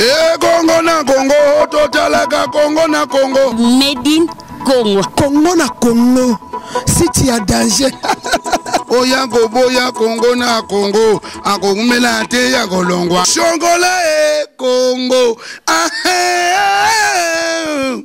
ekongo na kongo totalaka kongo na kongo medin kongo kongo na kongo siti ya danger oya koboya kongo na kongo akokumela te ya kolongwa shongola e kongo ahe ah, eh, eh, eh.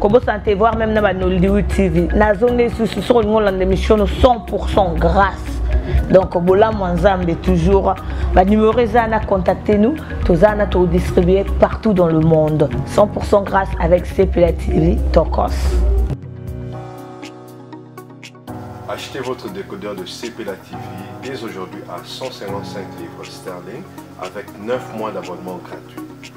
kobosana te voir même na ba nollywood tv nazongi lisusu soki olingi olanda émission no 100 grâce donc bolamu ya nzambe toujours banumero eza na contacte nous toza na todistribue partout dans le monde 100 grâce avec cepela tv tokos Achetez votre décodeur de CPLA TV dès aujourd'hui à 155 livres sterling avec 9 mois d'abonnement gratuit.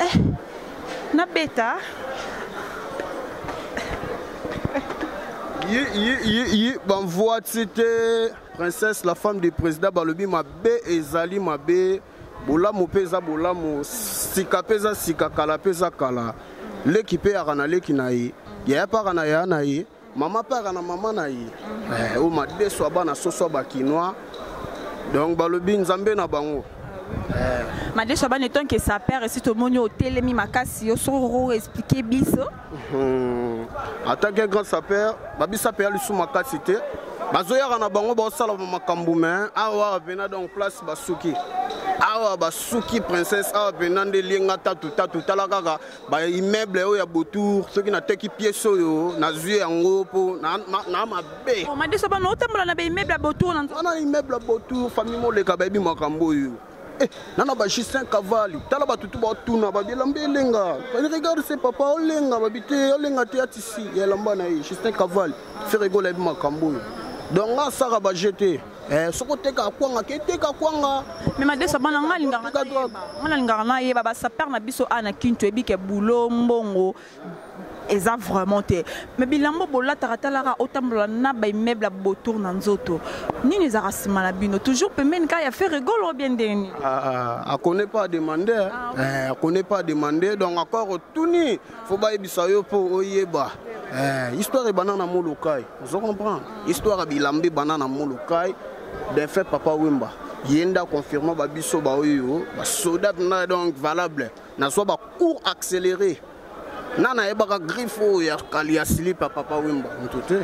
eh, nabeta ye ye ye ye bamvua ti te princesse la femme du président balobi mabe ezali mabe bolamu mpe eza bolamu sika mpe eza sika kala mpe eza kala leki mpe yaka na leki na ye yaya mpe aka na yaya na ye mama mpe aka na mama na ye eh, oyo madeso ya bana soso ya bakinois donc balobi nzambe na bango eh. madeso ya bana etonke sa père esi tomoni otelemi makasi yo soki okoko explike biso hmm. atake grand sapere babisa mpe ya lisu makasi te bazoyaka na bango baosala makambo me awa pena donc place basuki awa basuki princesse awa pena nde lienga tatu tatu tala kaka ba immeuble oyo ya botour soki nateki pièce oyo nazwi yango mpo na mabe oh, madeso bana otambola na baimmeuble ya botour wana immeuble ya botour famille moleka bayebi makambo oyo eh, nana ba justin cavali tala bato tu batuna babi elamba elenga regarde se papa olenga babi te olenga te atisi ya elamba na ye justin cavali feregola yebi makambo oyo donc nga asaka baje te Eh, soki oteka kwanga ke teka kwanga me madesa bana nga alingaka nayeba basaper na biso a na kintu eyebi ke bulo mbongo eza vraiment te me bilambo bolataka talaka otambola na baimmeuble ya botour na nzoto nini ezalaka nsima na bino toujours pembeni kaka ya fere golo bien ndeni ah, ah, akone pas demande ah, eh, akone pas demande donc encore otuni fo bayebisa yo mpo oyeba eh, histoire ebanda na molokai ozo comprendre histoire ya bilamba ebanda na molokai defunt papa wemba ye nde aconfirma babiso baoyo basoda mpenza donc valable nazwa bacours accéléré na nayebaka griffe oyo ya kali ya slip ya papa wemba moto te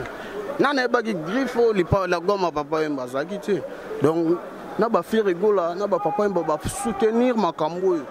na nayebaki griffe oyo lipa la goma papa wemba azalaki te donc na bafirigola na bapapa wemba basoutenir makambo oyo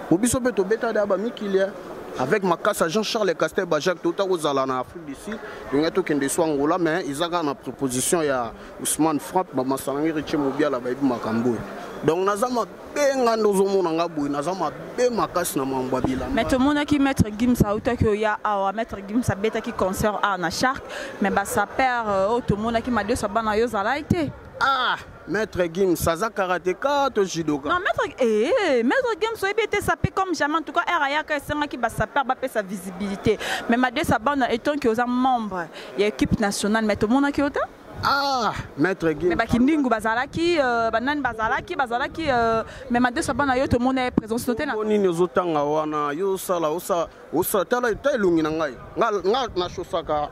po biso mpe tobeta da bamikilia avec makasa jean charles castel bajac touta kozala na afrique du sud tolingai tokende so angola mais eza kaka na proposition ya ousmane frappe bamasanangi riche mobiala bayebi makambo oyo donc naza mabe nga nde ozomona nga boye naza mabe makasi na mambo ya bilamba mais tomonaki maître gims autaki oya awa maître gims abetaki concert awa na shark mais basaper euh, oyo tomonaki madeso bana yo ozalaki te ah Maître Gims, ça za karateka to judoka. Non, maître eh maître Gims soyez bien sapé comme jamais en tout cas RAYA ka senga ki ba sapeur ba sa visibilité. Mais ma deux sa bande étant que aux membre et équipe nationale mais tout monde a qui autant ah maître Guy mais bakindingu bazalaki euh, banani bazalaki bazalaki euh, mais ma deux sabana yo tomona ye présence note na nini ozotanga wana yo osala osala Osa tala ta elongi na ngai. Nga nga na chosaka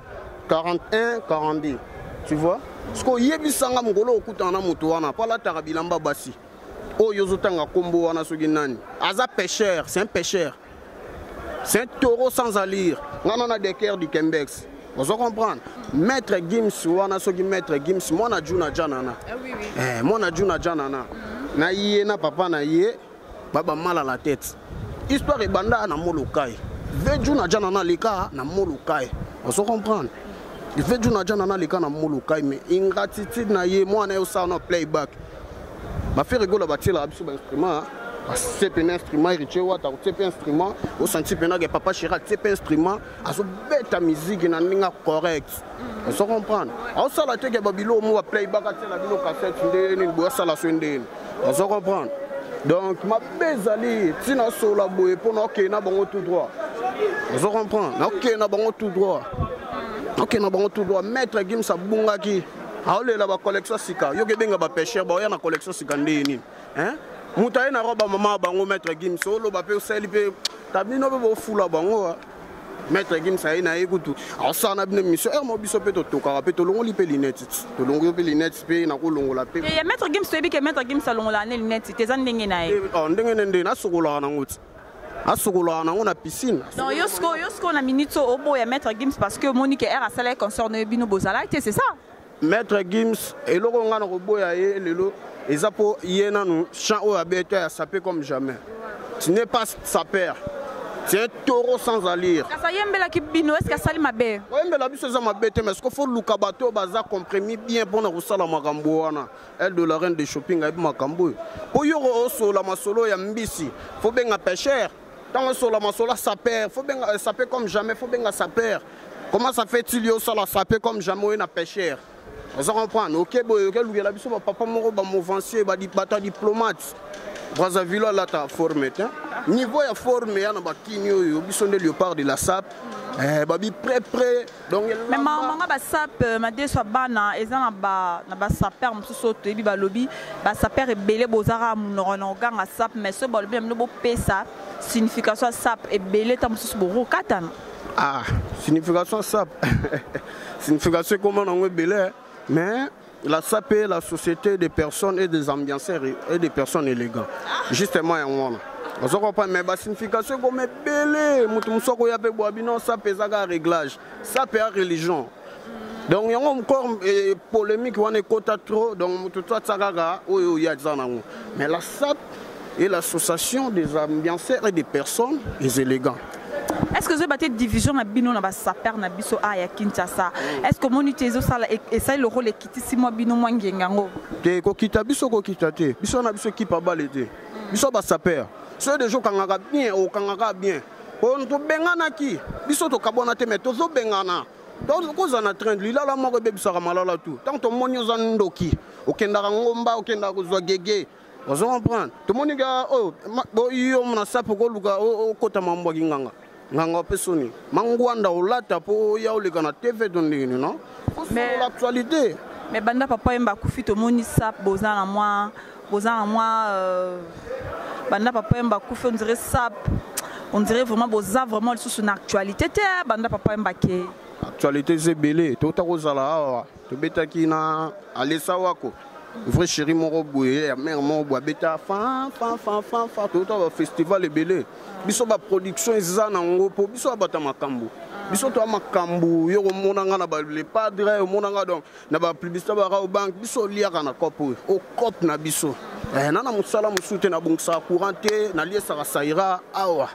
41 42. Tu vois? Siko yebisa nga mokolo okutana na moto wana pala taka bilamba basi. Oyo ozotanga kombo wana soki nani. Aza pêcheur, c'est un pêcheur. C'est un taureau sans allure. Nga na na decker du Kembex. ozo comprendre maître gims wana soki maître gims mwana juna janana ah eh, mwana juna janana na ye na papa na ye baba mal à la tête histoire ebanda na molokai veju na jana na leka na molokai ozo comprendre veju na jana na leka na molokai mais ingratitude na ye mwana yo sala na playback bafere gola batielaka biso bainstrument atie mpena instrument héritier wata akotie mpe instrument osanti mpena ke papa chira atie mpe instrument azobeta miziki na ndenge correct ozo comprendre aosala te ke babilo mo baplayback atiela bino cassette ndenge nini boye asala so ndenge nini ozo comprendre donc mabe ezali ntina asola boye mpo na okei na bango tout droit ozo comprendre nakokei na bango tout droit nakokei na bango tout droit maître gims abungaki aolela bacollection sika yoki ebenga bapesher baoya na collection sika ndenge nini moto aye na roba mama bango maître gims oloba mpe osali mpe tabino mpe bofula bango maître gims aye na ye kutu asala na bino émission heure mo biso mpe totokaka mpe tolongoli mpe linete tolongoli mpe linete mpe nakolongola mpe eh, maître gims toyebi ke maître gims alongolaka ne linete te eza ndenge na ye eh, oh, ndenge ne ndenge nasokolaka nango ti asokolaka nango na piscine donc yo sikoyo yo sikoyo na minute oyo oboya maître gims parce que omoni ke aire asalaki concert na ye bino bozalaki te c'est ça Maître Gims, eloko nga na koboya ye lelo eza po ye nanu chant oyo abeta ya sape comme jamais. Tu n'es pas sapeur. C'est un taureau sans allure. Kasa yembela ki bino est-ce que asali mabe? Ko yembela biso eza mabe te mais ce qu'il faut luka bato baza compromis bien pona kosala makambo wana. Elle de la reine de shopping ayebi makambo oyo. Po yoko osola masolo ya mbisi, faut benga pêcheur. ntango esola masola saper faut benga euh, saper comme jamais faut benga saper comment ça fait il yo osala saper comme jamais oye na pêcheur oza comprendre oke boye oke lukela biso bapapa moko bamovancier bato ya diplomate brazzaville alata forme te niveau ya forme ya na bakini oyo biso nde leopard de la sap eh, babi près près mais mawa manga basape euh, madeso ya bana eza na basaper mosusu oyo toyebi balobi basaper ebele bozaka monoko na koganga sape mais soki balobi na bino bopesa signification ya sape ebele ntango mosusu bokokatana ah signification sape signification ekoma nango ebele mais La SAP est la société des personnes et des ambianceurs et des personnes élégantes. Justement, il y a un ozo comprendre mais basignification ekoma ebele moto mosusu akoya mpe bwa bino sape ezaka réglage sape ya religion donc yango encore eh, polémique wana ekota trop donc moto to atia kaka oyo oya aza nango mais la sape et l'association des ambianceurs et des personnes des élégants est-ce que vous avez division na bino na basaper na biso a ya kinshasa est-ce que omoni te ezosala esali lokola ekitisi mwa bino mwa ngenga yango te kokita biso kokita te biso na biso ekipe abale te biso basaper soki deja okangaka bien okangaka bien tobenganaki biso tokabwana te mai tozobengana kozala na train lilala moko ebebisaka malala tu ntango tomoni oza ndoki okendaka ngomba okendaka kozwa gege ozo comprendre tomoni ga oyo oh, yo mona sapo koluka okota mambo ya kinganga nganga ope soni mangwanda olata mpo oya oleka na tv to ndenge nini no kosola actualité mais banda papa yemba akufi tomoni sap boza na mwa boza na mwa euh, banda papa yemba akufi on dirait sap on dirait vraiment boza vraiment lisusu na actualité te banda papa yemba ke actualité eza ebele tokota kozala awa tobetaki na alesa wako vrai chéri moko boye ya mare moko boye abeta fanfanfanfanfa toyota bafestival ebele biso baproduction eza na yango mpo biso abata makambo biso toya makambo yo komona nga na le padre omona nga donc na bapublicité barao bank biso oliaka na cope oyo ocope na biso eh, na na mosala mosusu te nabongisaka courant te naliesaka saira awa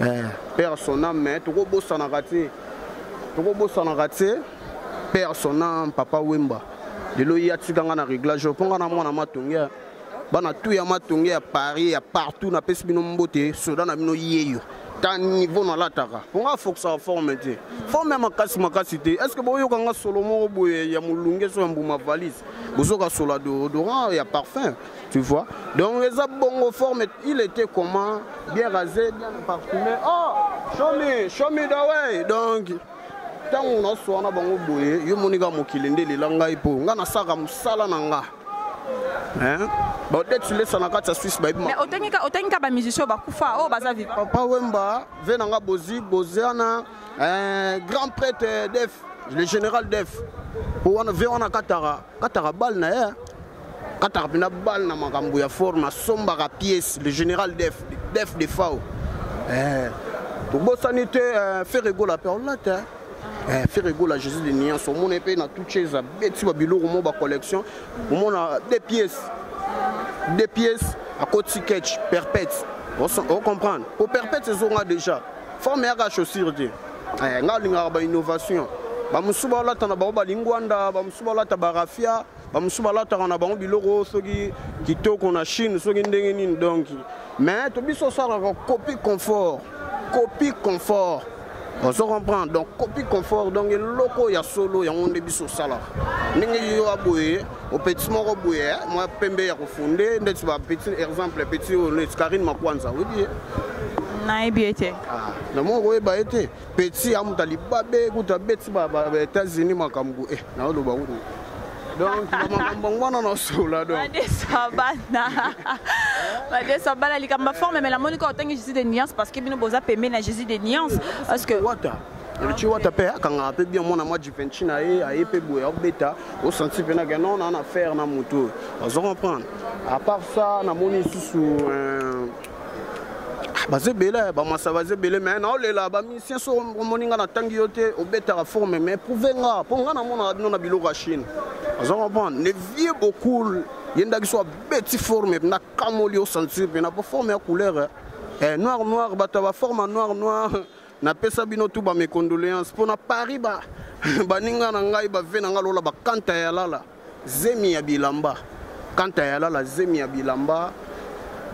eh. père son âme mais tokobosanaka te tokobosanaka te père son âme papa wemba lelo ye atika ngai na réglage mpo ngai na mwana matonge bana tu ya matonge ya paris ya partout napesi bino mbote soda na bino yeyo ta niveau nalataka mpo ngai afokisaka forme te forme ya makasi makasi te est ce que boyoka ngai solo moko boye ya molunge so ya mbuma valise bozoka sola deodorant ya parfum Tu vois Donc les bongo forme, il était comment Bien rasé, bien parfumé. Oh Show me, show me the way Donc ntango naswana bango boye yo moni kaka mokili nde elela ngai mpo ngai nasalaka mosala na nga baodetilesa na kati ya swisse bayebiotangika bamusicien oyo bakufa oyo baza viva papa wemba ve na nga bozi boziana eh, grand prêtre def le général def mpo wana ve wana kataka kataka bale na ye kataka mpena bale na makambo ya forme asombaka pièce le général def def de fao eh, tobosani te eh, fere gola mpe olate eh, fere gola jésus de niance omona mpe na tout chez abeti babiloko mo bacollection omona de pièce de pièce akoti ketch perpète ocomprendre po perpète ezonga déjà forme yaka chaussure te ngai alingaka bainnovation bamosusu baolata na bango balingwanda bamosusu baolata barafia bamosusu balataka na bango biloko soki kitoko na chine soki ndenge nini donki mais to biso osalaka copie confort copie confort ozo comprendre donc copie confort donc eloko ya solo yango nde biso osalaka ndenge yo aboye opetisi moko boye eh, mwa pembe ya kofunde ndeti bapeti exemple peti oyo neti karine makwanza oyebi ye nayebi ye te ah, na moko koyeba ye te petit ya moto alibabe kutu abeti baétats-unis makambo e naoloba kutu donc bamakambo yango wana nasola donbadesa bana badesa bana likambo ya forme mais namoni kaka otangi jésus de nuance parce que bino boza pembeni na jésus de nuance parce que wata richi wata mpe akangaka mpe bien mwana mwa jivenci na ye aye mpe boye akobeta osanti mpe nake non naa na faire na moto oyo ozo comprendre à part ça namoni lisusu euh, ah, baza ebele bamasa baza ebele mai naolela bamisien so omoni nga natangi yo te obetaka forme mai prouve nga mpo nga namonaka bino na biloko ya chine aza comprendre le vieux bokul ye ndaki so abeti forme mpe nakamoli yo sentir mpena mpo forme ya couleur eh. eh, noir noir bato ya baforme noir noir napesa bino tu bamecondoléance mpo na paris baninga ba na ngai bave na ngai lola bakanta ya lala zemi ya bilamba kanta ya lala zemi ya bilamba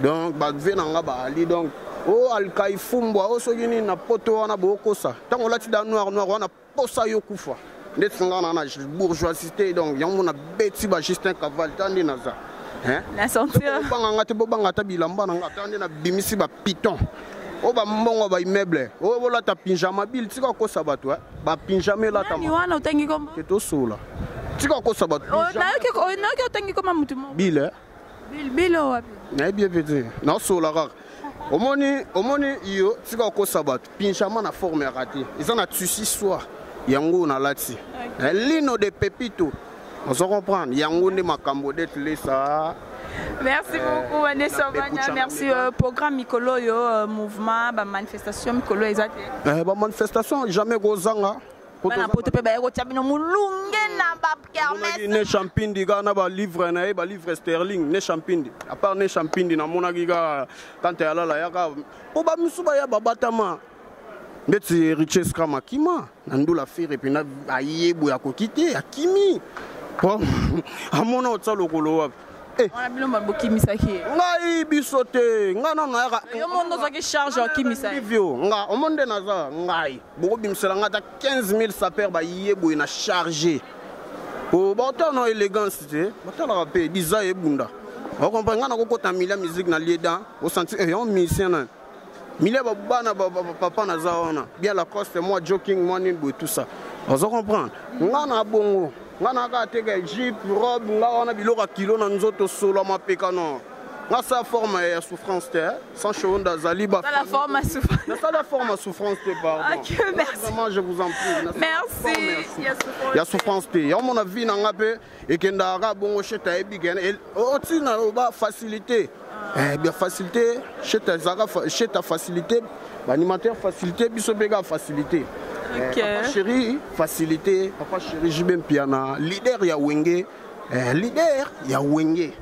donc bave na nga baali donc o oh, alkai fumbwa o oh, soki nini na poto wana bokosa ntango olati da noir noir wana posa yo kufa nde tinga na na bourgeoisité donc yango na beti ba Justin Caval tandi na za hein na sentir banga ngate bo banga ta bilamba na ngata nde na bimisi ba piton oyo bambongo ba immeuble oyo bolata pinjama bile tika kokosa bato eh. bapinjama elatawana otangi kombo ke tosola tika kokosa bato oh, nayoki otangi koma motu moko bile eh. bile oyo wapi nayebi ebe te nasola kaka omoni omoni yo tika kokosa bato pinjama na forme ya rate eza na tusi soir yango nalati eh, lino de pepito ozo comprendre yango nde makambo dete lesa merci eh, beaucoup vanessa banya merci euh, programme mikolo oyo euh, mouvement bamanifestation mikolo eza te eh, bamanifestation jamais kozanga bana poto mpe baye kotya bino molunge na bakermese ne champindi kaka na balivre na ye balivre sterling ne champindi apart ne champindi namonaki kaka kanta ya lala yaka mpo bamisu baya babatama ndeti riches kama kima na ndula fere mpena aye boye akoki te akimi po amona otya lokolo wapi eh. wana bino mba bokimisaki ye ngai biso te ngai nano nayaka yo mondo ozwaki charge okimisa vio nga omoni nde naza ngai bokobimisela ngai ata 15 000 saper baye boye na charge o baotala na élégance te batalaka mpe diza ebunda okomprendre ngai nakokota milia musique na lieda osanti eyon eh, musicien nayo milia babana papa naza wana bien lacoste mwa joking mwa nini boye tout ça ozo comprendre nga na bongo nga na kaka teka jipe robe nga wana biloko ya kilo na nzoto solo ya mapeka nor nga sa forme ya souffrance te eh. sans cheveux azali ba la forme à souffrance na sala forme à souffrance te pardon OK merci vraiment je vous en prie merci ya souffrance te ya mon avis na nga pe ekendaka kaka bongo shete ayebi kena otina oba facilité eh, bien facilité shete ezalaka shete ya facilité baanimateur facilité biso mpe kaka facilité eh, okay. papa chéri facilité papa chéri jb mpiana leader ya wenge eh, leader ya wenge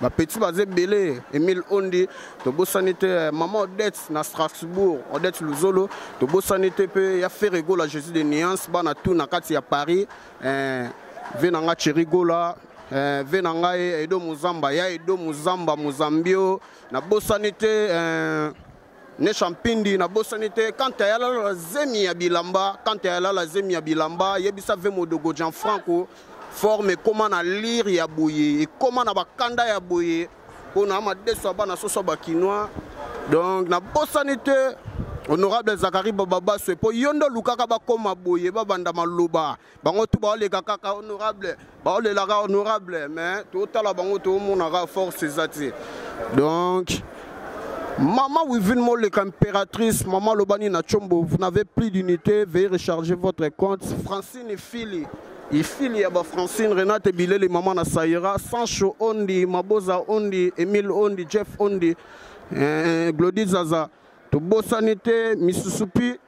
ba petits baza ebele emile ondi tobosani te eh, mama odette na strasbourg odette luzolo tobosani te mpe ya ferregola jésus de nuance bana tour na kati ya paris eh, ve na nga cherigola eh, ve na ngai edo mozamba ya edo mozamba mozambio nabosani te eh, ne champindi nabosani te kanta ya lala zemi ya bilamba kanta ya lala zemi ya bilamba yebisa ve modogo jean franco forme ekóma na lire ya boye ekóma na bakanda ya boye mpo na madeso ya bana soso bakinois donc nabosani te honorable zakari bababaso mpo yo nde olukaka bakóma boye babanda maloba bango tu baoleka kaka honorable baolelaka honorable mais totala bango tomonaka force eza te donc Maman Wivine Molek, impératrice, Maman Lobani Nachombo, vous n'avez plus d'unité, veuillez recharger votre compte. Francine et Philly, et Philly, Abba Francine, Renate Bilel et Maman Nasaïra, Sancho Ondi, Maboza Ondi, Emile Ondi, Jeff Ondi, euh, Glody Zaza. tobosani te misusupi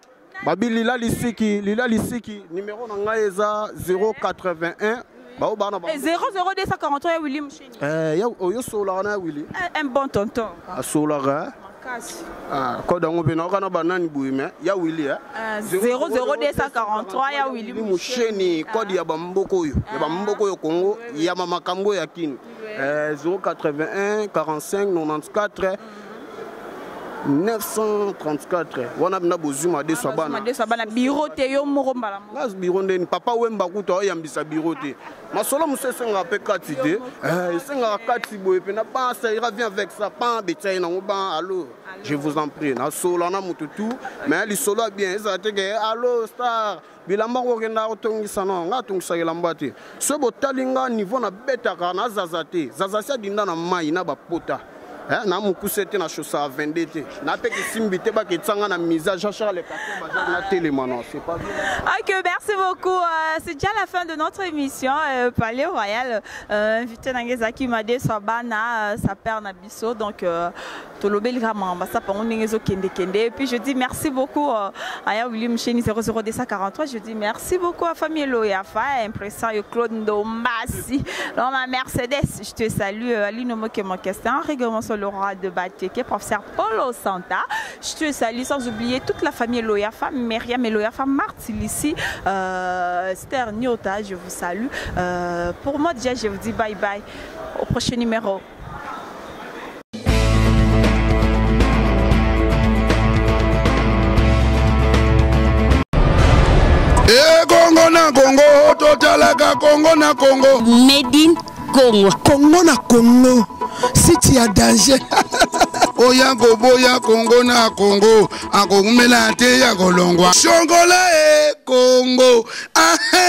babi lila lisiki lila lisiki numero na ngai eza 081 bao bana ba 00243 ya willi musheni eh ya oyo solaka na ya willi eh, un bon tonton asolaka eh? makasi ah koda ngo pe na kana banani boye mais ya willi eh 00243 eh, ya willi musheni kode ya bamboko oyo ya bamboko oyo Congo ya makambo ya kini 081 45 94 934 wana mna bozwi madeso ya bana bana biro te yo moko mbala nas biro ndeni papa wemba kutu aoyambisa biro te masolo mosusu esengaka mpe kati te eh, esengaka kati boye mpe na ban saira vient avec ça pan betia ye nango ban allo je vous en prie nasolola na moto tout mais lisolo ya bien ezala te ke allo star bilamba kokenda kotongisa no ngai atongisaka elamba te soki botali ngai niveau nabetaka na zaza te zaza si adinda na mai na bapota eh, na mokuse te na chaussaka 22 te na mpe kisimbi te baketsanga na misa jean charles patebaza na telema non c'est pas ok merci beaucoup euh, c'est déjà la fin de notre émission euh, palais royal euh, invité na ngai ezalaki made swabana euh, sa père na So donc euh, tolobeli kaka makambo ya sapango ndenge ezokendekende et puis je dis merci beaucoup euh, aya william cheni 00243 je dis merci beaucoup à famille loyafa ya impression yo claude ndombasi donc ma mercedes je te salue euh, alino mokemokestin rigomoso le roi de bateke professeur polo santa je te salue sans oublier toute la famille loyafa meriam et loyafa martilisi euh, ster niota je vous salue euh, pour moi déjà je vous dis bye bye au prochain numéro ekongo na kongo totalaka kongo na kongo medin kongo kongo na kongo siti ya danger oya koboya kongo na kongo akokumela te ya kolongwa shongola e kongo ahe